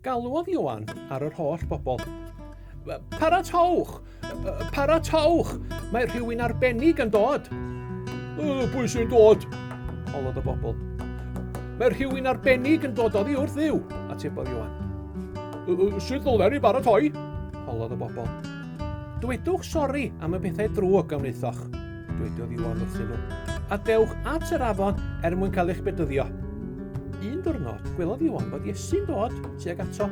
Galwodd Iwan ar yr holl bobl. Paratowch! Paratowch! Mae rhywun arbennig yn dod! Pwy sy'n dod? Holodd y bobl. Mae rhywun arbennig yn dod oddi wrth ddiw, atebodd Iwan. Sut ddoler i baratoi? holodd y bobl. Dywedwch sori am y pethau drwg a wnaethoch, dywediodd Iwan wrthyn nhw, a dewch at yr afon er mwyn cael eich bedyddio. Un diwrnod, gwelodd Iwan bod Iesu'n dod tuag ato.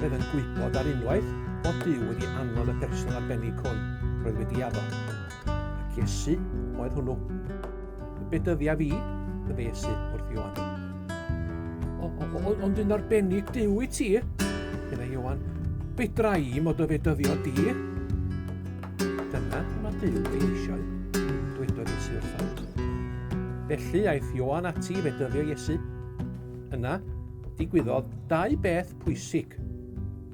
Roedd yn gwybod ar unwaith bod Dyw wedi anfod y person arbennig hwn roedd wedi addo. Ac Iesu oedd hwnnw. Be dyddia fi, y Iesu wrth Ioan. Ond yn arbennig Dyw i ti, yna Ioan, be drai i mod o fe dyddio di? Dyna mae Dyw ei eisiau, dwedodd Iesu wrtho. Felly aeth Ioan ati fe dyddio Iesu. Yna, digwyddodd dau beth pwysig.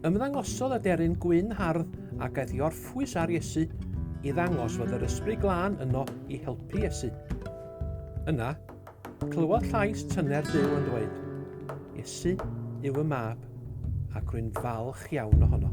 Ymddangosodd aderyn gwyn hardd ac aeth i orffen pwys ar Iesu i ddangos fod yr ysbryd glân yno i helpu Iesu. Yna, clywodd llais tyner Duw yn dweud, Iesu yw y mab, ac rwy'n falch iawn ohono.